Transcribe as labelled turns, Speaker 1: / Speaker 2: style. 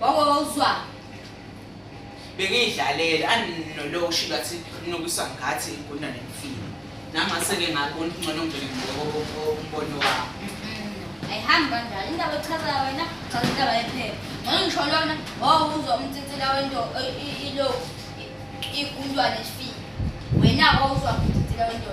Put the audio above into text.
Speaker 1: Baba wawuzwa.
Speaker 2: Bengiyidlalele anoloku shilo athi nokisa ngathi inkundla nemfini. Namase ke ngakona ngcono ngibheke ngombono wakho. Ayihambi kanjalo
Speaker 1: indaba echazayo wena cha indaba yephepha. Ngcono ngisho lona wawuzwa umtsitsila wento ilo ikundwa nesifini. Wena wawuzwa umtsitsila wento.